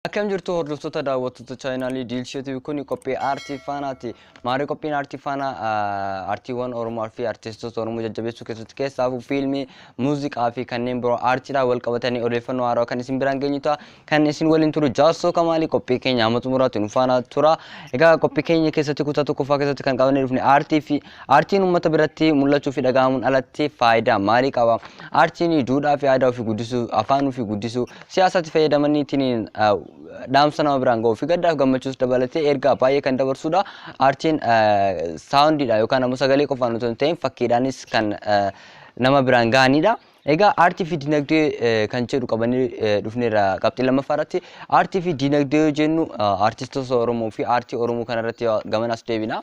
Akkam jirtu hordoftoota daawwattoota chaayinaalii Diilshee TV kun qophii aartii faanaati. Maarree qophiin aartii faanaa ah, aartiiwwan Oromoo fi aartistoota Oromoo jajjabeessuu keessatti keessaafuu fiilmii, muuziqaa fi kanneen biroo aartiidhaan wal qabatanii odeeffannoo haaraa kan isin biraan geenyu ta'a. Kan isin waliin turu jaarsoo kamaalii qophii keenya amma xumuraatti nu faana tura. Egaa qophii keenya keessatti kutaa tokkoffaa keessatti kan qabannee dhufne aartii fi Aartiin uummata biratti mul'achuu fi dhaga'amuun alatti faayidaa maalii qaba? Aartiin duudhaa fi aadaa ofii guddisuu, afaan ofii guddisuu, siyaasatti fayyadamanii ittiin dhaamsa nama biraan ga'uu fi gaddaaf gammachuus dabalatee ergaa baay'ee kan dabarsudha. Aartiin saawundiidha yookaan ammoo sagalee qofaan otoo hin ta'in fakkiidhaanis kan nama biraan ga'anidha. Egaa aartii fi dinagdee kan jedhu qabanii dhufneerra qabxii lammaffaa irratti aartii fi dinagdee yoo jennu aartistoota Oromoo fi aartii Oromoo kanarratti gaman as deebina.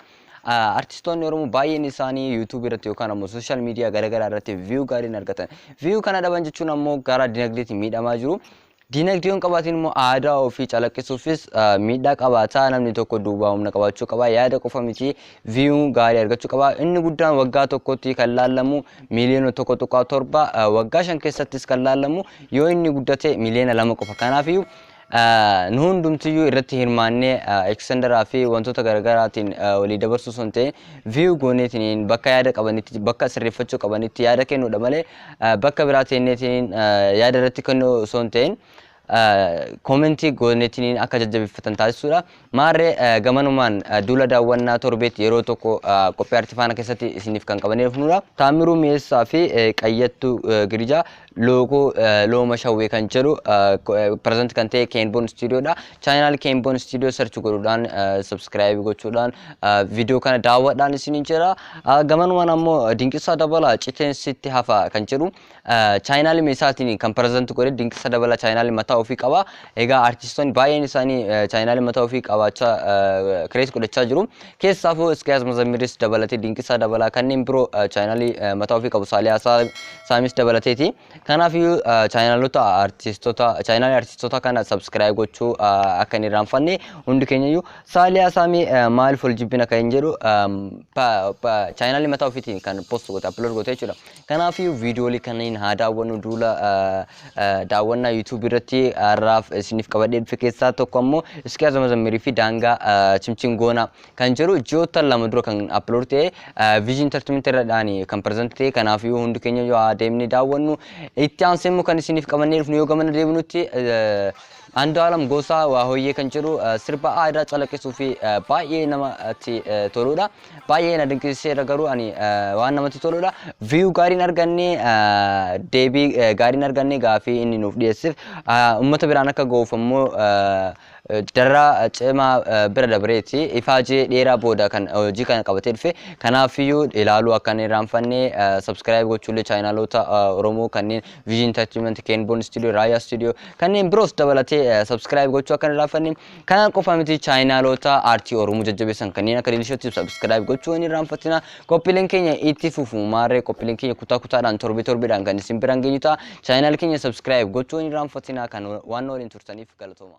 Artistoonni Oromoo baay'een isaanii YouTube irratti yookaan ammoo social media garaagaraa irratti view gaariin argatan. View kana dhaban jechuun ammoo gara dinagdeetti miidhamaa jiru. Dinagdee hin qabaatiin immoo aadaa ofii calaqqisuufis miidhaa qabaata. Namni tokko duubaa humna qabaachuu qaba. Yaada qofa miti view gaarii argachuu qaba. Inni guddaan waggaa tokkotti kan laallamu miiliyoona tokko tuqaa torba waggaa shan keessattis kan laallamu yoo inni guddate miiliyoona lama qofa. Kanaafiyyuu Nu hundumtiyyuu irratti hirmaannee extender fi wantoota garaagaraatiin walii dabarsuu osoo hin ta'in view gooneetiin bakka yaada qabanitti bakka sirreeffachuu qabanitti yaada kennuudha malee bakka biraa teenneetiin yaada irratti kennuu osoo hin ta'in koomentii gooneetiin akka jajjabeeffatan taasisuudha. Maarree gamanumaan duula daawwannaa torbeetti yeroo tokko qophii Artii Faanaa keessatti isiniif kan qabannee dhufnudha. Taammiruu Mi'eessaa fi Qayyattuu Girjaa lookoo looma shawwee kan jedhu pireezanti kan ta'e Keenboon Istuudiyoodha. Chaayinaal Keenboon Istuudiyoo sarchi godhuudhaan sabskiraayibii gochuudhaan viidiyoo kana daawwadhaan isiniin jedha. Gamanumaan ammoo Dinqisaa Dabalaa citeen sitti hafaa kan jedhu Chaayinaali meesaatiin kan pireezanti godhe dinqisa dabala chaayinaali mataa ofii qaba. Egaa artistoonni baay'een isaanii chaayinaali mataa ofii qabaachaa kirees godhachaa jiru. Keessaafuu Iskiyaas Mazammiris dabalatee dinqisaa dabalaa kanneen biroo chaayinaali mataa ofii qabu Saaliyaa Saamis dabalateeti. Kanaafiyyuu chaayinaalota artistoota chaayinaali artistoota kana sabskiraayib gochuu akka hin irraanfanne hundi keenyayyuu Saaliyaa Saamii maaliif wal jibbina kan hin jedhu chaayinaali mataa ofiitiin kan post goote aplood goote jechuudha. Kanaafiyyuu viidiyoolii kanneen haa daawwannu duula daawwannaa YouTube irratti har'aaf isiniif qabadhee dhufe keessaa tokko ammoo Iskiyaa Zamazammirii fi Daangaa Chimchiin Goonaa kan jedhu ji'oota lama dura kan upload ta'e Vision Entertainment irradhaan kan present ta'e kanaafiyyuu hundi keenya yoo haa deemnee daawwannu itti aansee immoo kan isiniif qabannee dhufnu yoo gamana deebinutti Andu'aalam Gosaa waa hoyyee kan jedhu sirba aadaa calaqqisuu fi baay'ee namatti toludha. Baay'ee na dinqisiiseera garuu ani waan namatti toludha. Viyuu gaariin arganne deebii gaariin arganne gaafii inni nuuf dhiyeessif uummata biraan akka ga'uuf ammoo dararaa cimaa bira dabreeti ifaajee dheeraa booda kan hojii kana qabatee dhufe kanaafiyyuu ilaaluu akka inni irraanfanne sabskiraayib gochuullee chaayinaaloota Oromoo kanneen Vision Entertainment, Kenbon Studio, Raayyaa Studio kanneen biroos dabalatee sabskiraayib gochuu akka inni irraanfanne Kanaan qofa miti chaayinaaloota aartii Oromoo jajjabeessan kanneen akka Lilishoo Tube subscribe gochuu hin irraanfatina. Qophiileen keenya itti fufu maarree qophiileen keenya kutaa kutaadhaan torbee torbeedhaan kan isin biraan geenyu ta'a. Chaayinaal keenya subscribe gochuu hin irraanfatina kan waan nu waliin turtaniif galatooma.